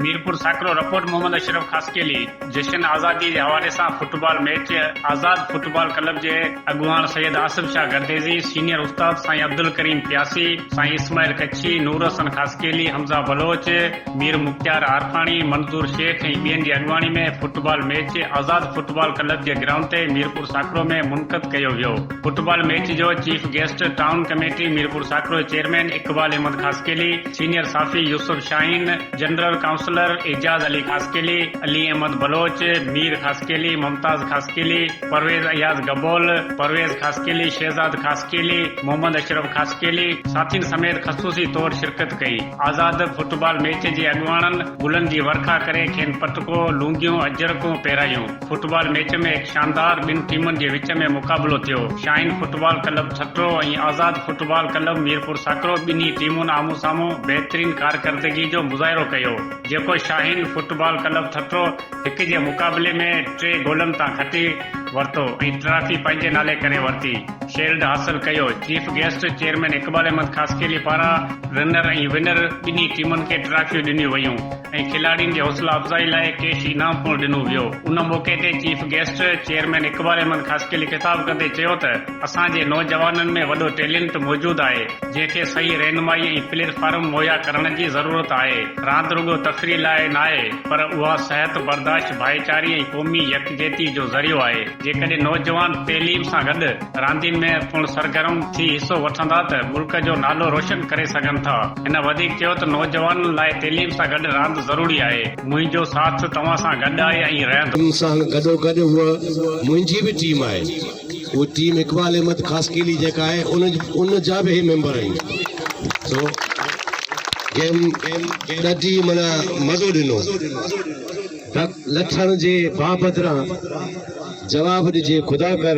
Mirpur Sakro report Muhammad Ashraf Khaskheli جشن آزادي جي حوالي سان football match Azad football club جي اڳواڻ سيد آصف شاهه گرديزي سينيئر استاد سائين عبدالڪريم پياسي سائين اسماعيل ڪڇي نور حسن خاصخيلي حمزه بلوچ مير مختيار عارفاڻي، منظور شيخ ۽ ٻين جي اڳواڻي ۾ football match Azad football club جي گرائونڊ تي ميرپور ساڪرو ۾ منعقد ڪيو ويو. فٽبال ميچ جو chief guest town committee Mirpur Sakro جي چيئرمين اقبال احمد خاصخيلي، سينيئر صحافي يوسف شاهين، جنرل ڪائونسلر اعجاز علي خاصخيلي، علي احمد بلوچ، مير خاصخيلي، ممتاز خاصخيلي، پرويز اياز گبول، پرويز خاصخيلي، شهزاد خاصخيلي، محمد اشرف خاصخيلي ساٿين سميت خصوصي طور شرڪت ڪئي. آزاد فٽبال ميچ جي اڳواڻن گلن جي ورکا ڪري کين پٽڪو، لونگيون، اجرڪون پهرايون. فٽبال ميچ ۾ هڪ شاندار ٻن ٽيمن جي وچ ۾ مقابلو ٿيو. شاهين فٽبال ڪلب ٺٽو ۽ آزاد فٽبال ڪلب ميرپور ساڪرو ٻنهي ٽيمن آمهون سامهون بهترين ڪارڪردگي جو مظاهرو ڪيو جيڪو شاهين فٽبال ڪلب ٺٽو هڪ جي مقابلي ۾ ٽي گولن تان کٽي ورتو ۽ ٽرافي پنهنجي نالي ڪري ورتي شيلڊ حاصل ڪيو chief guest chairman Iqbal Ahmed Khaskheli پاران رنر ۽ ونر ٻنهي ٽيمن کي ٽرافيون ڏنيون ويون ۽ کلاڙين جي حوصلا افزائي لاء ڪيش انعام پڻ ڏنو ويو ان موقعي تي chief guest chairman Iqbal Ahmed Khaskheli خطاب ڪندي چيو ته اسان جي نوجوانن ۾ وڏو ٽيلنٽ موجود آهي جنهن کي صحيح رهنمائي ۽ پليٽ فارم مهيا ڪرڻ جي ضرورت آهي راند رڳو تفريح لاء ناهي پر اها صحت برداشت، ڀائيچاري ۽ قومي يڪجهتي جو ذريعو آهي. جيڪڏهن نوجوان تعليم سان گڏ راندين ۾ پڻ سرگرم ٿي حصو وٺندا ته ملڪ جو نالو روشن ڪري سگهن ٿا. هن وڌيڪ چيو ته نوجوانن لاء تعليم سان گڏ راند ضروري آهي. منهنجو ساٿ توهان سان گڏ آهي ۽ رهندو. ان سان گڏوگڏ هوء منهنجي به ٽيم آهي. هو ٽيم اقبال احمد خاصخيلي جيڪا آهي ان جا به هي ميمبر آهن سو جنهن ڏاڍي معنيٰ مزو ڏنو لٺڻ جي باهه بدران جواب ڏجي خدا ڪر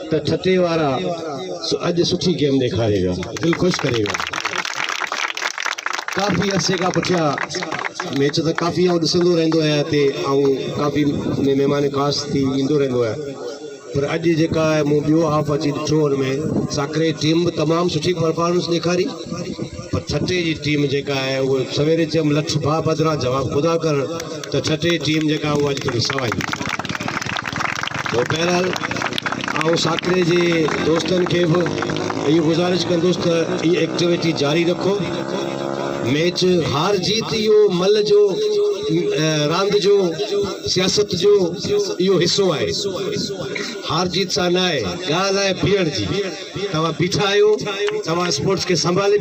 ته ٺٽي وارا اڄ سٺي گيم ڏيکاري ويا دل خوش ڪري ويا ڪافي عرصي کان پٺيا ميچ ته ڪافي آئون ڏسندو رهندو آهيان هتي آئون ڪافي مهمان خاص ٿي ايندو رهندو آهيان پر اڄ جيڪا مون ٻيو هاف اچي ڏٺو ان ۾ ساڪري ٽيم به تمام سٺي پرفارمنس ڏيکاري پر ٺٽي جي ٽيم جيڪا آهي اهو سويري چيم لٺ ڀاء بدران جواب خدا ڪرڻ ته ٺٽي ٽيم جيڪا اهو اڄ ٿوري سوائي تو بهرحال آئون ساڪري جي دوستن کي به اهي گزارش ڪندس ته هي ايڪٽيويٽي جاري رکو ميچ هار جيت اهو مل جو راند جو سياست جو اهو حصو آهي، هار جيت سان ناهي، ڳالهه آهي بيهڻ جي، توهان بيٺا آهيو، توهان اسپورٽس کي سنڀالي